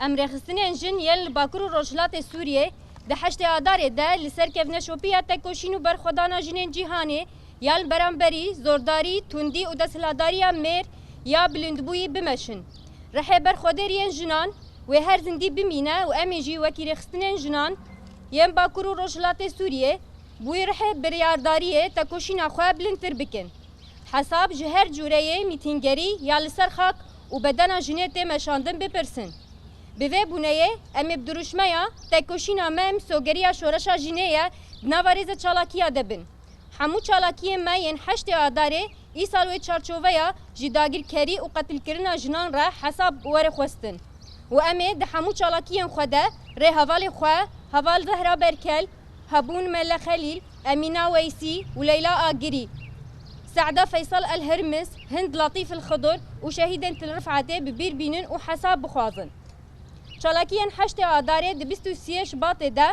Em rêxistinên jin yên li Bakur û Rojhilatê Sûriyê di heştê Adarê de li ser kevneşopiya tekoşîn û berxwedana jinên cîhanê ya li beramberî zordarî, tundî û desthilatdariya mêr ya bilindbûyî bimeşin. Rihê berxwedêr yên jinan wê her zindî bimîne û em ê jî wekî rêxistinên jinan yên Bakur û Rojhilatê Sûriyê bûyî rihê biryardariyê tekoşîna xwe bilindtir bikin. Hesab ji her cûreyê mîtîngerî ya li ser xak û bedena jinê tê meşandin bipirsin. Bi vê bûneyê em ê bi dirûşmeya Têkoşîna me em sogeriya şoreşa jinê ye di nava rêzê çalakiya de bin. Hemû çalakiyên me yên heştê Adarê îsal wê çarçoveya ji dagirkerî û qetilkirina jinan re hesab were xwestin û em ê di hemû çalakiyên xwe de rê hevalê xwe, heval Zehra Berkel, hebûn Melle Xelîl, Emîna Weysî û Leyla Agirî, Se'da Feysal El Hirmis, Hind Latîf El Xidr û şehîdên Til Rif'etê bi bîr bînin û hesab bixwazin. Çalakiyên heştê Adarê di bîst û siyê Şibatê de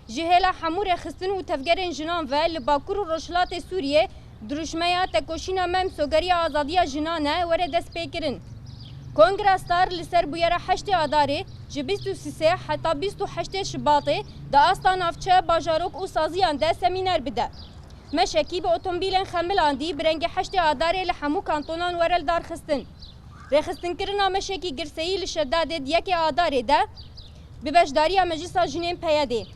ji hêla hemû rêxistin û tevgerên jinan ve li Bakur û Rojhilatê Sûriyê Dirûşmeya Tekoşîna Memso geriya azadiya jinan e were destpêkirin. Kongra Star li ser bûyera heştê Adarê, ji bîst û sisê heta bîst û heştê Şibatê di asta navçe, bajarok û saziyan de semîner bide. Meşekî bi otombîlên Xemilandî bi rengê heştê Adarê li hemû kantonan were lidarxistin. Rêxistinkirina meşekî girseyî li Şedadê di yekê Adarê de, Bi beşdariya Meclisa Jinên PYD'ê,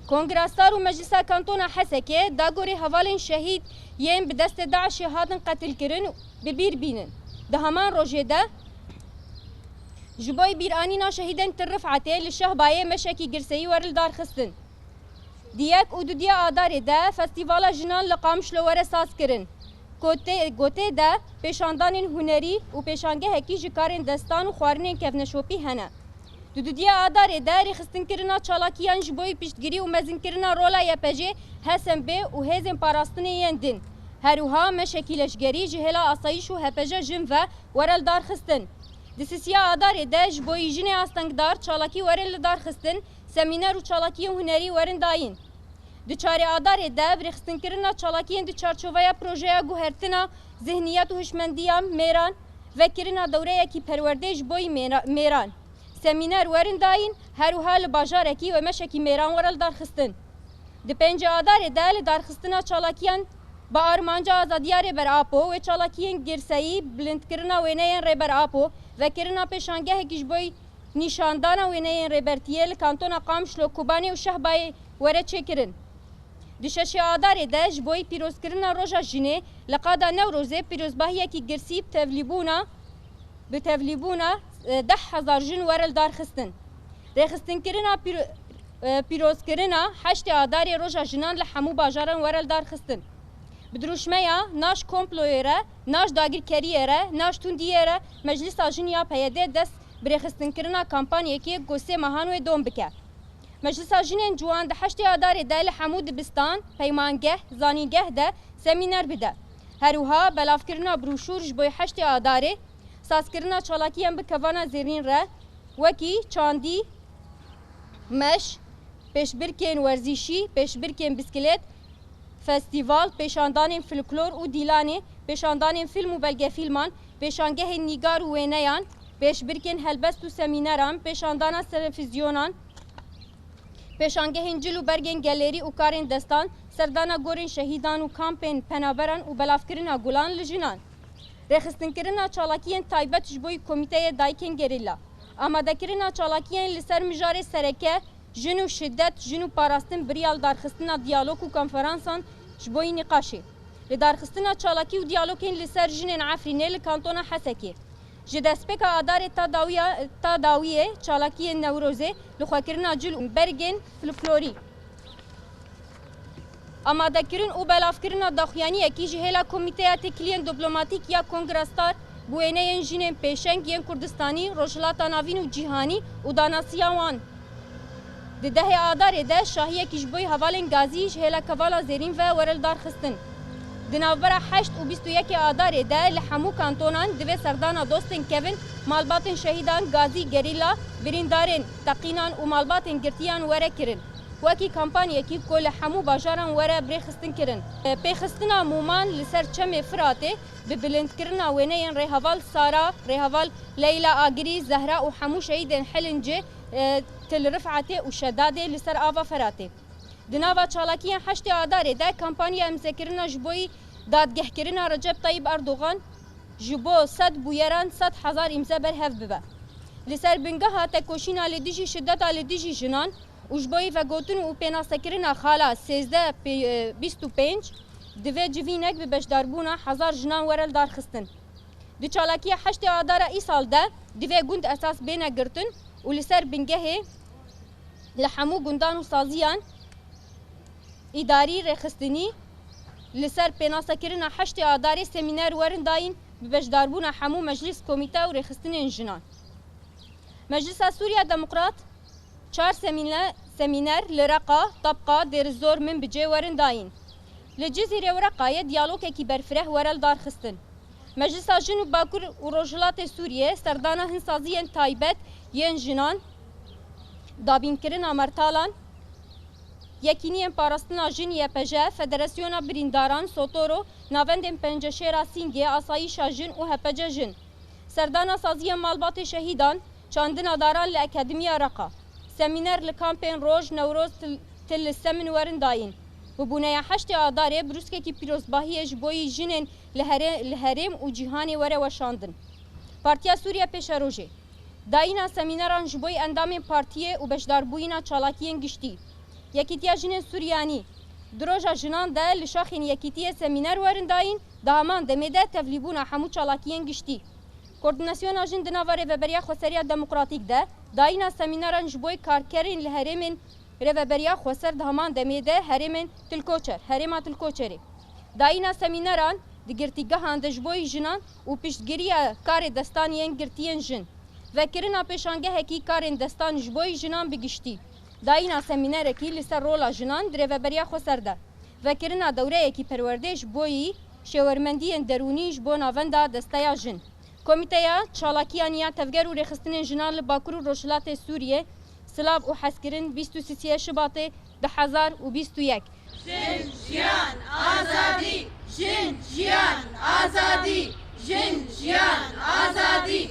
Kongra Star û Meclisa Kantona Hesekê dagorê hevalên şehîd yên bi destê DAIŞ'ê hatin qetilkirin bi bîr bînin. Di heman rojê de ji bo bîranîna şehîdên Til Rif'etê li Şehbayê meşekî girseyî were lidarxistin. Di yek û dudiya Adarê de Festîvala Jinan li Qamişlo were sazkirin ku tê ku tê de pêşandanên hunerî û pêşangehekî ji karên destan û xwarinên kevneşopî hene. Di dudiya Adarê de rêxistinkirina çalakiyan ji boî piştgirî û mezinkirina rola YPJ'ê, HSMV û hêzên parastinê yên din. Herwiha meşekî leşgerî ji hêla asayîş û HPJ jin ve were lidarxistin. Di sisiya Adarê de ji boî jinê astengdar çalakî werin lidarxistin, semîner û çalakiyên hunerî werin dayîn. Di çarê Adarê de ev rêxistinkirina çalakiyên di çarçoveya projeya guhertina zihniyet û hişmendiya mêran, Vekirina dewreyekî perwerdê ji boî mêran, semîner werin dayîn her wiha li bajarekî wemeşekî mêran were li darxistin. Di pêncî adarê de li darxistina çalakiyan bi armanca azadiya Rêber Apo wê çalakiyên girseyî, bilindkirina wêneyên Rêber Apo, vekirina pêşangehekî ji boî nîşandana wêneyên Rêbertiyê li kantona Qamşlo, Kobanê û Şehbayê were çêkirin. Di şeşê Adarê de ji boî pîrozkirina Roja Jinê li qada Newrozê pîrozbahiyekî girsî bi tevlîbûna bi tevlîbûna deh hezar jin were li dar xistin. Rêxistinkirina pîrozkirina heştê Adarê Roja Jinan li hemû bajaran were li dar xistin. Bi dirûşmeya Na ji komployê re, Na ji dagirkeriyê re, Na ji tundiyê re Meclisa Jin ya PYD dest bi rêxistinkirina kampanyekê ku sê mehan wê dom bike. Meclisa Jinên Ciwan di heştê Adarê de li hemû dibistan, peymangeh, zanîngeh de semîner bide. Herwiha belavkirina brûşûr ji bo heştê Adarê, sazkirina çalakiyên bi kevana zêrîn re wekî çandî, meş, pêşbirkên werzîşî, pêşbirkên biskilêt, festîval, pêşandanên fliklor û dîlanê, pêşandanên fîlm û belgefîlman, pêşangehên nîgar û wêneyan, Pêşbirkên helbest û semîneran, pêşandana selefîzyonan, pêşangehên cil û bergên gelêrî û karên destan, serdana gorên şehîdan û kampên penaberan û belavkirina gulan li jinan. Rêxistinkirina çalakiyên taybet ji bo Komîteyê Dayikên Gerîla. Amadekirina çalakiyên li ser mijarê sereke, Jin û şiddet, jin û parastin biriya li darxistina diyalog û konferansan ji bo nîqaşê. Lidarxistina çalakî û diyalogên li ser jinên Efrînê li kantona Hesekê. Ji destpêka Adarê ta dawiya ta dawiyê çalakiyên Newrozê li xwekirina cil û bergên flklorî, amadekirin û belavkirina daxuyaniyekî ji hêla Komîteya Têkiliyên Diplomatîk ya Kongra Star bi wêneyên jinên pêşeng yên Kurdistanî, Rojhilata Navîn û Cîhanî û danasiya wan. Di dehê Adarê de şahiyekî ji boî hevalên gazî ji hêla Kevala Zêrîn ve were li dar xistin. Di navbera heşt û bîst û yekê Adarê de li hemû kantonan divê serdana dostên kevin, malbatên şehîdan, gazî, gerîla, birîndarên, teqînan û malbatên girtiyan were kirin. Wekî kampanyekî ku li hemû bajaran were birêxistin kirin. Pêxistina mûman li ser Çemê Firatê bi bilindkirina wêneyên Rêheval Sara, Rêheval Leyla Agirî, Zehra û hemû şehîdên Hilincê, Til Rifetê û Şedadê li ser ava Feratê. Di nava çalakiyên heştê Adarê de kampanya imzekirina ji bo dadgehkirina Recep Tayyîp Erdogan ji bo sed bûyeran sed hezar îmze berhev bibe. Li ser bingeha tekoşîna li dijî şideta li dijî jinan û ji bo vegotin û pênasekirina xala sêzdeh bîst û pênc divê civînek bi beşdarbûna hezar jinan were lidarxistin. Di çalakiya heştê adara îsal de divê gund esas bêne girtin û li ser bingehê li hemû gundan û saziyan îdarî rêxistinî li ser pênasekirina heştê adarê semîner werin dayîn bi beşdarbûna hemû meclîs, komîte û rêxistinên jinan. Meclisa Sûriya Demokrat Çar semîner li Reqa, Tabqa, Dêrizor, Minbicê werin dayîn. Li Cizîrê û Reqayê diyalogekî berfireh were lidarxistin. Meclisa Jin û Bakur û Rojhilatê Sûriyê serdana hin saziyên taybet yên jinan, dabînkirina mertalan, Yekîniyên Parastina Jin, YPJ, Federasyona Birîndaran, Sotoro, Navendên Penceşêra Singê, Asayîşa Jin û HPC Jin. Serdana saziyên malbatê şehîdan, çandina daran li Akademiya Reqa, semîner li kampên Roj, Newroz, Til li Semin werin dayîn. Bûbûneya heştê Adarê brûskekî pîrozbahiyê ji bo yî jinên li herêm û cîhanê were weşandin. Partiya Sûriye Pêşerojê, dayîna semîneran ji bo endamên partiyê û beşdarbûyîna çalakiyên giştî. Yekîtiya Jinên Suryanî, di Roja Jinan de li şaxên Yekîtiyê semîner werin dayîn. Di heman demê de tevlîbûna hemû çalakiyên giştî, koordînasyona jin di nava Rêveberiya Xweseriya Demokratîk de, dayîna semînaran ji boy karkerên li herêmên Rêveberiya Xweser di heman demê de herêmên Tilkoçer, Herêma Tilkoçerê, dayîna semînaran di girtîgehan de ji boy jinan û piştgiriya karê destan yên girtiyên jin, vekirina pêşangehekî karên destan ji boy jinan bi giştî. Dayîna semînerekî li ser rola jinan di rêveberiya Xweser de, vekirina dewreyekî perwerdê ji boyî şêwermendiyên derûnî ji bo navenda Desteya Jin, Komîteya Çalakiyan ya Tevger û Rêxistinên Jinan li Bakur û Rojhilatê Sûriyê, Silav û Hezkirin bîst û sîsîyê Şibatê du hezar û bîst û yek. Jin, jiyan, azadî! Jin, jiyan, azadî! Jin, jiyan, azadî!